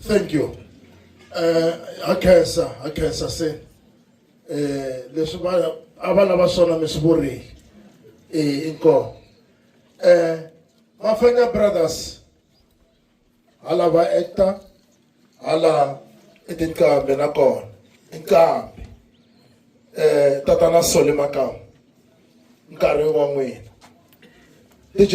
thank you eh a khensa a khensa se eh leswi va a va lava swona mi swi vurile eh inkomo eh mafanya brothers hala va ekta hala i tinqambi nakona i nqambi um tatana sole makamu nkarhi wa n'wina dj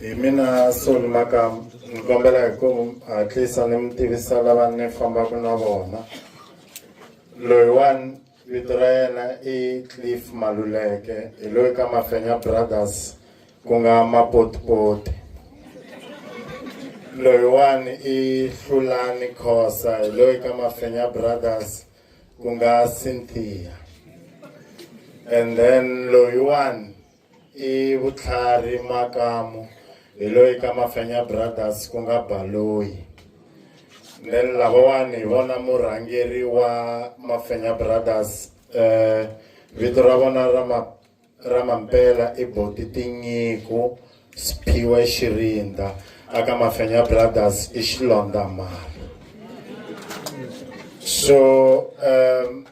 hi mina soni maka ni kombela hi ku hatlisa ni mi tivisa lava ni fambaka na vona loyiwani vito ra yena i cliff maluleke hi loyi ka mafenya brothers ku nga mapotipoti loyiwani i hlulani khosa hi loyi ka mafenya brothers ku nga cynthia and then loyiwani I vutlhari makamu hi loyi ka mafenya brothers ku nga baloyi then lavawani hi vona murhangeri wa mafenya brothers eh vito ra vona ra ma ra mampela i boti tinyiko siphiwe xirinda aka mafenya brothers i xilondamali so um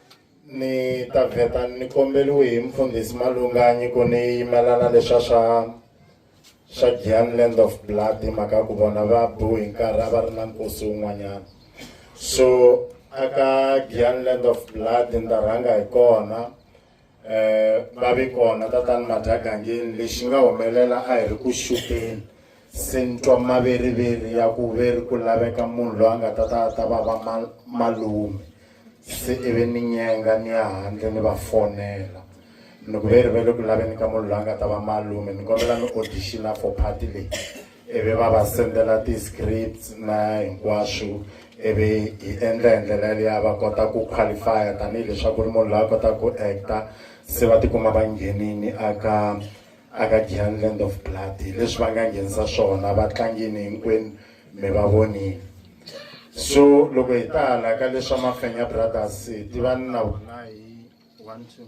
Ni ta vheta ni kombeliwe hi mufundhisi Malunga nyiko ni yimelana leswa swa swa Giyani Land of Blood hi mhaka ku vona va bu hi nkarhi a va ri na nkosi wun'wanyana so aka Giyani Land of Blood ni ta rhanga hi kona eh va vi kona tatani Madhagangeni lexi nga humelela a hi ri ku xupeni se ni twa maveriveri ya ku ve ri ku laveka munhu loyi a nga ta ta ta va va malume se i ve ni nyenga ni ya handle ni va fonela ni ku ve ri ve le ku laveni ka munhu loyi a nga ta va malume ni kombela ni audition for party leyi i ve va va sendela ti-scripts na hinkwaswo i ve hi endla hi ndlela yaleya va kota ku qualify-a tanihileswaku ri munhu loyi a kotaka ku actor se va tikuma va nghenini aka aka Giyani Land of Blood leswi va nga nghenisa swona va tlangini hinkwenu mi va vonile so loko hi ta hala ka leswa Mafenya Brothers hi tivani na wona hi one two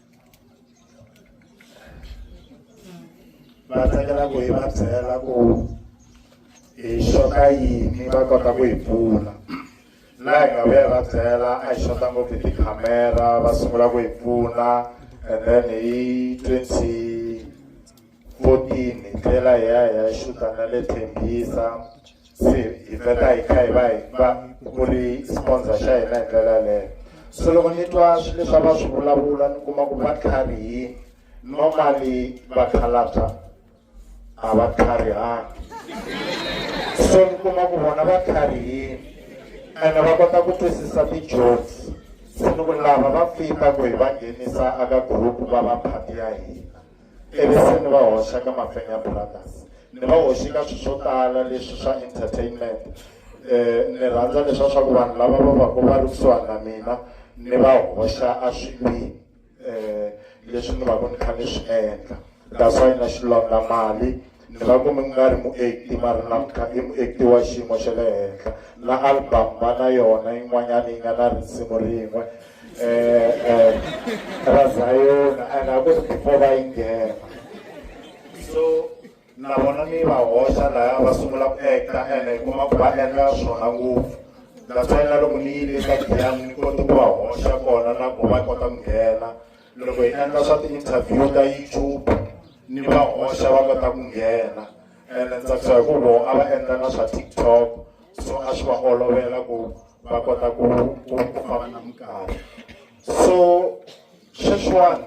va tsakela ku hi va byela ku hi xota yini va kota ku hi pfuna laha hi nga vuya va byela a hi xota ngopfu hi tikhamera va sungula ku hi pfuna and then hi twenty fourteen hi tlhela hi ya hi ya xuta na le thembisa se hi vheta hi kha hi va hi va ku ri sponsor xa hina hi ndlela yaleyo so loko ni twa swi leswi a va swi vulavula ni kuma ku va tlharihini normally vakhalabya a va tlharihangi so ni kuma ku vona va tlharihini ene va kota ku twisisa ti-jokes se ni ku lava va fita ku hi va nghenisa aka group va va phati ya hina ivi se ni va hoxa ka mafenya brothers ni va hoxi ka swilo swo tala leswi swa entertainment um ni rhandza leswa swa ku vanhu lava va vaku va ri kusuhani na mina ni va hoxa a swilwini um leswi ni vaku ni kha ni swi endla that's why na xilondamali Ni nga ku mi nga ri muekti mara namuntlha i muekti wa xiyimo xa le henhla na album va na yona yin'wanyana yi nga na risimu rin'we um ra zayona and a ku ri before va yi nghena so na vona ni va hoxa laya va sungula ku ekta and hi kuma ku va endla swona ngopfu that's why na loko ni yile eka giyani ni koti ku va hoxa kona na ku va kota ku nghena loko hi endla swa ti-interview ta youtube ni va hoxa va kota ku nghena ene ni tsakisa hi ku voho a va endla na swa tiktok so a swi va olovela ku va kota ku ku ku famba na minkarhi so sweswiwani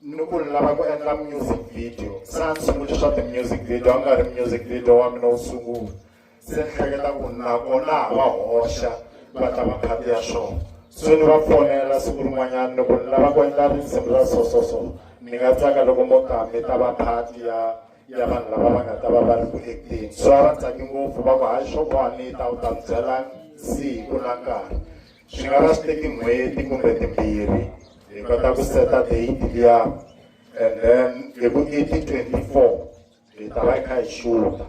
ni ku ni lava ku endla music video se a ni sunguli swa ti-music video a nga ri music video wa mina wu sungula se ni hleketa ku nakona ha va hoxa va ta va phati ya swona so ni va fonela siku rin'wanyana ni ku ni lava ku endla risimu ra so so so ni nga tsaka loko mo ta mi ta va phati ya ya vanhu lava va nga ta va va ri ku ekteni so a va tsaki ngopfu va ku hayi swo boha ni ta u ta mi byela siku na nkarhi swi nga va swi teki n'hweti kumbe timbirhi hi kota ku seta date liya and then hi ku i ti twenty four hi ta va hi kha hi xula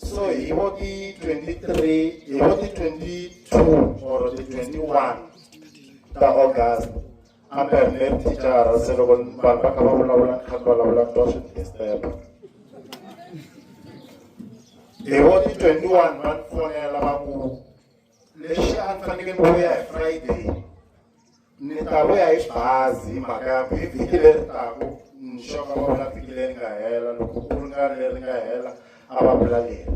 so hi vo ti 23 hi vo ti 22 or ti 21 ta august ambe ri ne tichara se loko vanhu va kha va vulavula ni kha ni vulavula ni twa swi ni disturba hi vo ti 21 va ni fonela va ku lexi a ni fanekele ni vuya hi friday ni ta vuya hi xibazi hi mhaka ya ku hi vhiki leri taku nxoka va vula vhiki leri nga hela loko ku ri nga leri nga hela a va vula leri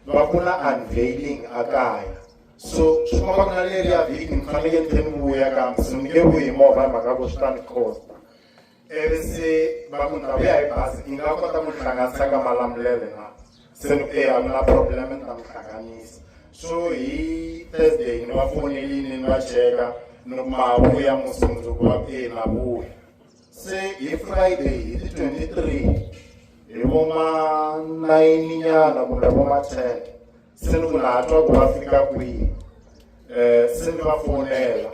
va ku na unveiling a kaya so swi komba ku na leri ya vhiki ni fanekele ni tlhe ni vuya kambe se ni nge vuyi hi movha hi mhaka ku swi ta ni costa ivi se va ku ndhawu ya hi bazi yi nga kota ku hlanganisa ka malamulele na se ni eya ku na problem ni ta mi hlanganisa so hi thursday ni va fonelini ni va cheka ni ku ma vuya musundzuku va ku eyi na vuya se hi friday hi ti twenty three hi vo ma nayini nyana kumbe vo ma ten se ni ku na ha twa ku va fika kwihi um se ni va fonela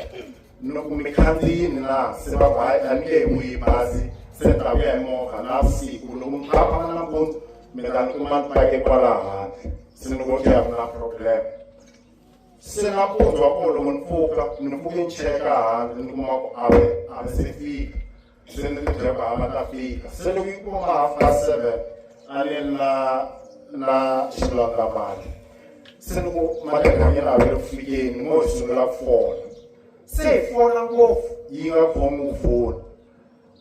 ni ku mi khandziyini na se va ku hayi a ni nge mu yi bazi se ni ta ku ya hi movha na vusiku loko mi tlhavana nampundzu mi ta ni kuma ni pake kwala handle se ni ku ya ku na problem se nampundzu wa kona loko ni pfuka ni pfuke ni cheka handle ni kuma ku ave ave se fika se ni ri byaka ha ma ta fika se loko yi kuma half past seven a ni ri na na xilondza mali se loko malembe ya mina a vele ku fikeni mo hi sungula ku fona se hi fona ngopfu yi nga khomi ku fona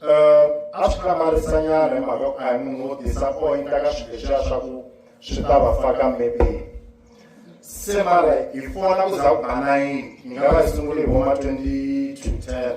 um a swi hlamarisanyana hi mhaka ku a hi munhu wo disappointa ka swilo leswiya swa ku swi ta va faka mepeni se mara hi fona ku za ku ba nayini ni nga va hi sungule hi voma twenty to ten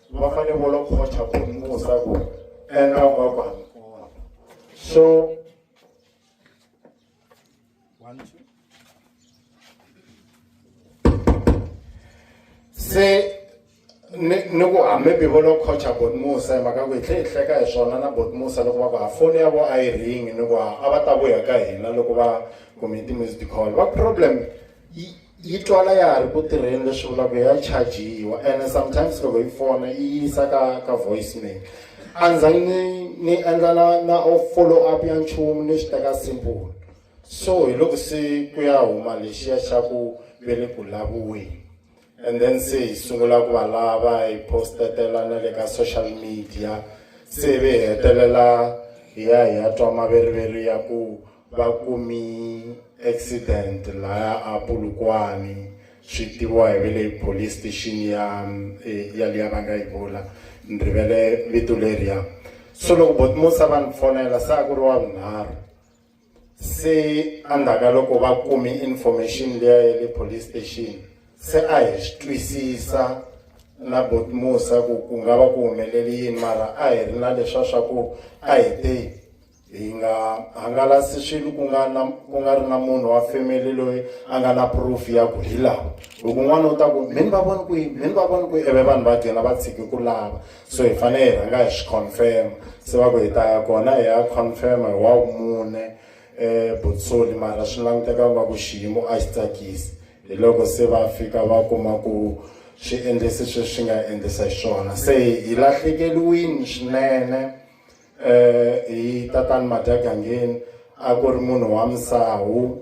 va fane vo lo khocha ku musa ku eka va va kona so se ni ni ku hambi bivo lo khocha bot musa hi mhaka ku hi tlhe hi hleka hi swona na bot musa loko va ku ha foni ya vo a yi ringi ni ku a va ta vuya ka hina loko va kumiti music call va problem yi twala ya ha ri ku tirheni leswi vulaka ya chajiwa ene sometimes loko yi fona yi yisa ka ka voicemail a ndzhaku ni ni endla na na follow up ya nchumu ni swi teka simple so hi loko se ku ya huma lexiya xa ku ve le ku laviweni and then se hi sungula ku va lava hi postetela na le ka social media se ve hi hetelela hi ya hi ya twa maveriveri ya ku va kumi accident laya a Polokwane swi tiviwa hi vele police station ya eh, ya liya va nga yi vula ni rivele vito leriya so loko botmosa va ni fonela se a ku ri wa vunharhu se endzhaku loko va kumi information liya ya le police station se a hi swi twisisa na botmosa ku ku nga va ku humelele yini mara a hi ri na leswa swa ku a hi te hi nga hangalasi swilo ku nga na ku nga ri na munhu wa family loyi a nga na proof ya ku hi lava loko n'wana u ta ku mini va voni kwihi mini va voni kwihi eve vanhu va gcina va tshiki ku lava so hi fanele hi rhanga hi swi confirma se va ku hi ta ya kona hi ya confirma hi wa mune um botsoli mara swi languteka va ku xiyimo a xi tsakisi hi loko se va fika va kuma ku swi endlisi sweswi swi nga endlisa xiswona se hi lahlekeliwini swinene eh hi tatani Madyagangheni a ku ri munhu wa misawu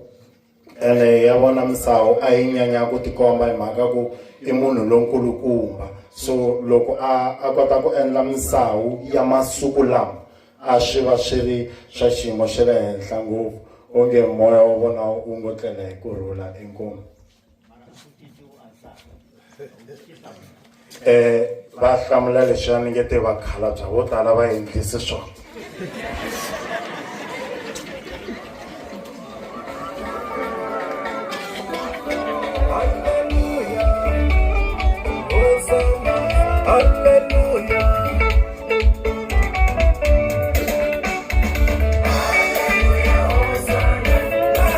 ene ya vona misawu a yi nyanya ku tikomba hi mhaka ku i munhu lonkulukumba so loko a a kota ku endla misawu ya masiku lama a swi va swi ri swa xiyimo xa le henhla ngopfu onge moya wa vona wu ngo tlela hi ku rhula inkomu eh va hlamula leswi a ni nge te vakhalabya vo tala va endlise swona